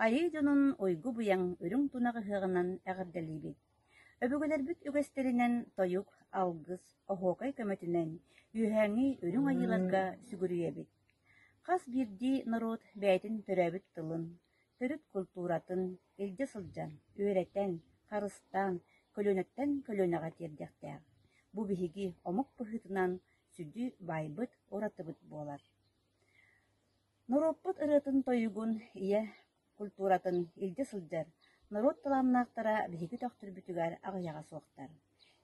Айыы дьонун уйгу-быйаҥ үрүҥ тунах ыһыаҕынан эҕэрдэлиибит! Өбүгэлэрбит үгэстэринэн тойук, алгыс, оһуокай көмөтүнэн үөһээҥи үрүҥ айыыларга сүгүрүйэбит! Хас биирдии норуот бэйэтин төрөөбүт тылын, төрүт култууратын илдьэ сылдьан, үөрэтэн, харыстаан, көлүөнэттэн көлүөнэҕэ тиэрдиэхтээх, бу биһиги омук быһыытынан сүдү баайбыт, уратыбыт буолар. Норуоппут ырыатын-тойугун, ийэ култууратын илдьэ сылдьар норуот талааннаахтара биһиги төхтүрбүтүгэр аҕыйаҕа суохтар.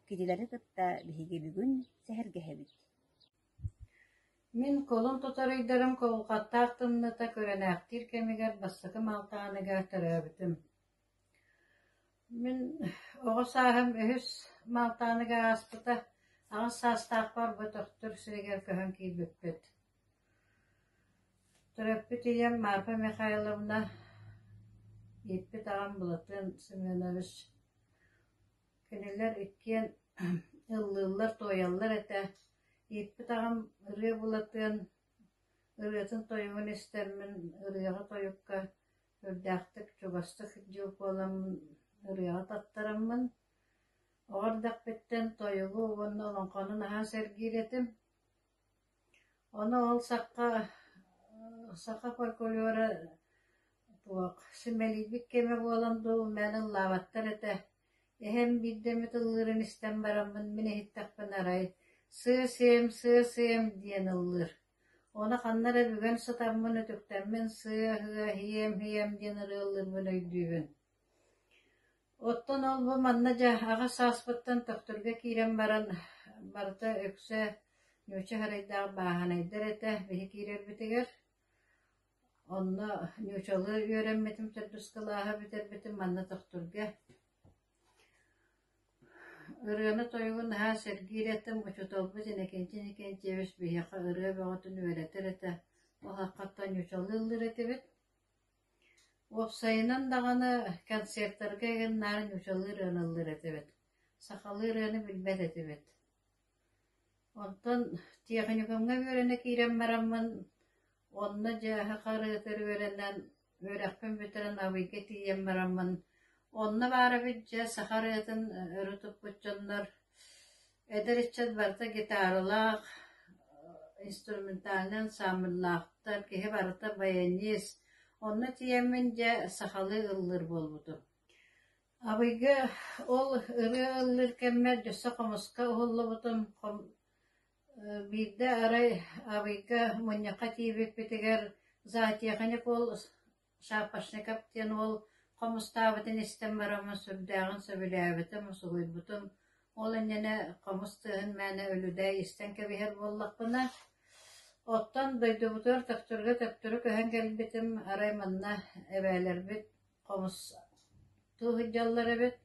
Кинилэри кытта биһиги бүгүн сэһэргэһэбит Мин кулун тутар ыйдарым куһулҕаттаах тымныыта күрэлээхтиир кэмигэр бастакы маалтаҕыныгар төрөөбүтүм. Мин оҕо сааһым үһүс маалтаҕыныгар ааспыта, аҕыс саастаах барбытөхтур сиригэр көһөн киирбиппит. Төрөппүт ийэм Марфа Михайловна, ииппит аҕам Былатыан Семенович. Кинилэр иккиэн ыллыыллар-туойаллар этэ, ииппит аҕам ырыа булатыан, ырыатын тойугун истэммин, ырыаҕа тойукка үрдээхтик, чугастык дьыл буоламмын ырыаҕа таттараммын, оҕо эрдэхпиттэн тойугу уонна олоҥхону наһаа сэргиир этим. Ону ол сахха саха фольклора туох симэлийбит кэмэ буолан дуу, мэн ыллаабаттар этэ. Эһэм биирдэ эмит ыллыырын истэн бараммын, мин иһиттэхпинэ арай: «Сыа-сиэм, сыа-сыэм» диэн ыллыыр. Ону ханна эрэ бүгэн сытаммын, үтүктэммин «сыа-һыа, һиэм-һиэм» диэн ырыа ыллыырбын өйдүүбүн. Оттон ол-бу манна дьааһыаҕа сааспыттан тохторго киирэн баран, барыта үксэ Ньууча харайдаах бааһынайдар этэ биһи киирэрбитигэр. Онно ньуучалыы үөрэммитим, төрдүскалааһы бүтэрбитим манна тохторго. Ырыаны-тойугу наһаа сэргиир этим, учууталбыт Иннокентий Иннокентьевич биһиэхэ ырыа бөҕөтүн үөрэтэр этэ, ол ааххаттан ньуучалыы ыллыыр этибит. Уопсайынан даҕаны, концертарга эҥин наар ньучалыы ырыалыыллар этибит, сахалыы ырыаны билбэт этибит. Оттон техникумҥа үөрэнэ киирэн бараммын, онно дьааһы харыытыр үөрэнэн, үөрэхпин бүтэрэн Абыйга тиийэн бараммын, онно баар эбит дьэ саха ырыатын өрө туппут дьоннор Эдэр ыччат барыта гитаралаах, инструментальнай ансаамбыллаахтар, киһи барыта баянист. Онно тиийэммин дьэ сахалыы ыллыыр буолбутум. Абыйга ол ырыа ыллыыр кэммэр өссө хомуска уһуллубутум. Биирдэ арай Абыйга мунньахха тиийбиппитигэр зоотеханик уол Шапошников диэн уол хомустаабытын истэн бараҕына сүрдээҕин сөбүлээбитим, усулуйбутум, ол иннинэ хомус тыаһын мээнэ үлүдээй истэн кэбиһэр буоллахпына, оттон дойдубутугар төптөргө төптөрү көһөн кэлбитим, арай манна эбээлэрбит хомус тыы сылдьаллар эбит,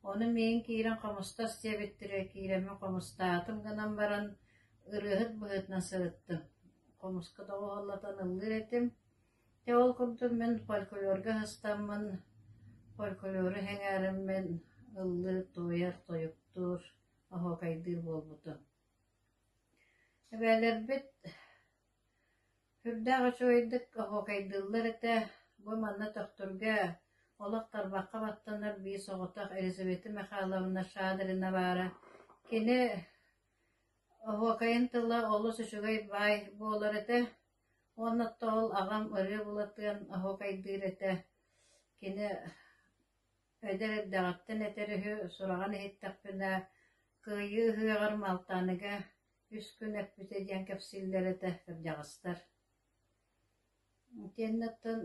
ону миигин киирэн хомустас диэбиттэрэ, киирэммин хомустаатым гынан баран, ырыаһыт быһыытынан сырыттым, хомуска доҕуһаллатан ыллыыр этим, Дьэ ол курдук мин фольклорга сыстаммын, фольклору сэҥээрэммин ыллыыр, туойар, тойуктуур, оһуокайдыыр буолбутум. Эбээлэрбит сүрдээх үчүгэйдик оһуокайдыыллар этэ, бу манна төхтүргэ олох тарбахха баттанар биис оҕотох Элизавета Михайловна Шадрина баара. Кини оһуокайын тыла олус үчүгэй баай буолар этэ Уонна оттоол аҕам ырыа булатыан оһуокайдыыр этэ, кини эдэр эрдэҕиттэн этэр үһү, сураҕын иһиттэхпинэ «Кыайыы ыһыаҕар Малтааныга үс күн эппитэ» диэн кэпсииллэр этэ кырдьаҕастар. Итиэннэ оттон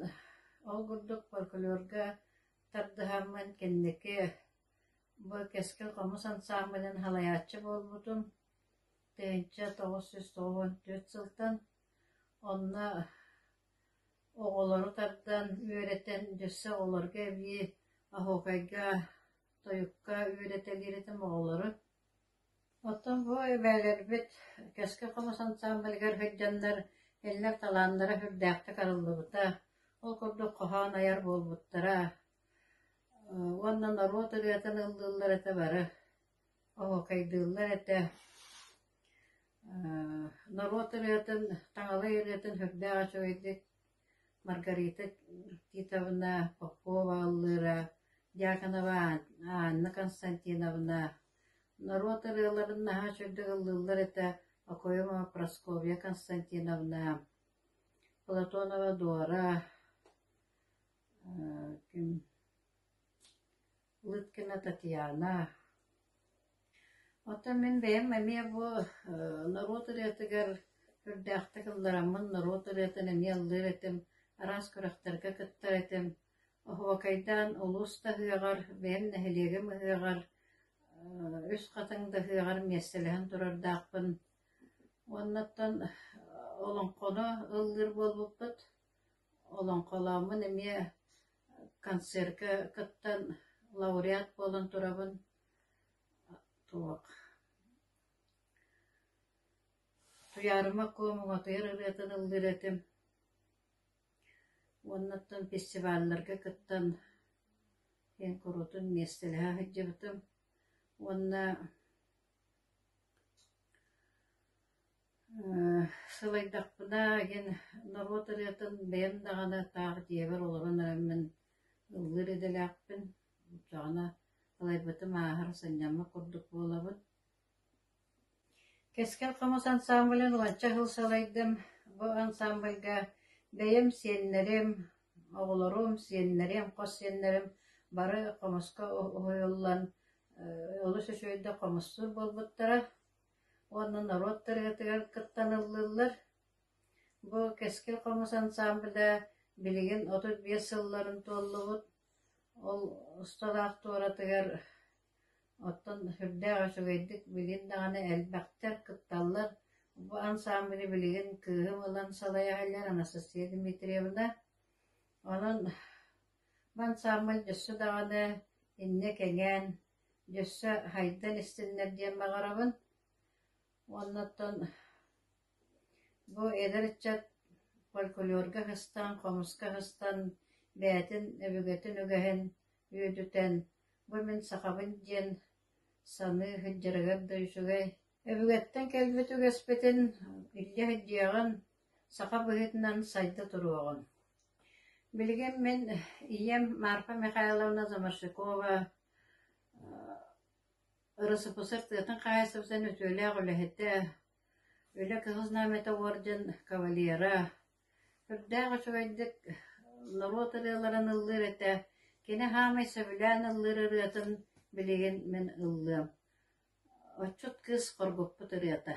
ол курдук фольклорга тардыһаммын кэнники бу Кэскил хомус ансаамбылын салайааччы буолбутум. Петя тоҕус сүүс тоҕуон түөрт сылтан, онно оҕолору тардан, үөрэтэн, өссө оҕолорго эбии оһуокайга, тойукка үөрэтэлиир этим оҕолору. Оттон бу эбээлэрбит Кэскил хомус ансаамбылыгар сылдьаннар кинилэр талааннара сүрдээхтик арыллыбыта, ол курдук хоһоон айар буолбуттара, уонна норуот ырыатын ыллыыллар этэ бары. Оһуокайдыыллар этэ, норуот ырыатын, таҥалай ырыатын сүрдээх үчүгэйдик Маргарита Титовна Попова аллыыра, Дьяконова Анна Константиновна, норуот ырыаларын наһаа үчүгэйдик ыллыыллар этэ, Окоемова Прасковья Константиновна, Платонова Дора, ким Лыткина Татьяна Оттон мин бэйэм эмиэ бу норуот ырыатыгар үрдээхтик ыллараммын норуот ырыатын эмиэ ыллыыр этим, араас күрэхтэргэ кыттар этим. Оһуокайдаан улуус да ыһыаҕар, бэйэм нэһилиэгим ыһыаҕар, үс хатыҥ да ыһыаҕар миэстэлэһэн турардаахпын. Уонна оттон олоҥхону ыллыыр буолбуппут. Олоҥхолооммун эмиэ концерка кыттан лауреат буолан турабын. Туох Туйаарыма Куом уҥатыйар ырыатын ыллыыр этим. Уоннаттан фестивалларга кыттан эн куруутун миэстэлэһэ сылдьыбытым. Уонна Сылайдахпына иһин норуот ырыатын бэйэм даҕаны таах дьиэбэр олорон эрэн мин ыллыыр идэлээхпин. Даҕаны лайбатым ааһар санньаммыт курдук буолабын. Кэскил хомус ансаамбылын уонча сыл салайдым. Бу ансаамбылга бэйэм сиэннэрим, оҕолорум, сиэннэрим, хос сиэннэрим бары хомуска уһуйуллан олус үчүгэйдик хомуссуур буолбуттара. уонна норуот ырыатыгар кыттаныллыллар. Бу Кэскил хомус ансаамбыля билигин отут биэс сылларын туоллубут. Ол усталаах туоратыгар оттон сүрдээх үчүгэйдик билин даҕаны элбэхтэр, кытталлар. Бу ансаамбыли билигин кыыһым ылан салайаһаллар Анастасия Дмитриевна. Онон бу ансаамбыл өссө даҕаны иннэ кэҥээн өссө хайдан истиннэр диэн баҕарабын. Уонна оттон бу эдэр ыччат фольклорга кыстан, хомуска кыстан, бэйэтин өбүгэтин үгэһин үөдүтэн, бу мин сахабын диэн саныы сылдьарыгар да үчүгэй. Өбүгэттэн кэлбит үгэспитин илдьэ сылдьыаҕын, саха быһыытынан сайда туруоҕун. Билигин мин ийэм Марфа Михайловна Заморшикова Ырысыпысар тыатын хаһаайыстыбатын үтүөлээх үлэһитэ, Үлэ Кыһыл Знамята орден кавалера, үрдээх үчүгэйдик норуот ырыаларын ыллыыр этэ, кини хаамай сөбүлээн ыллыыр ырыатын билигин мин ыллыам. Отчут кыыс хоргуппут ырыата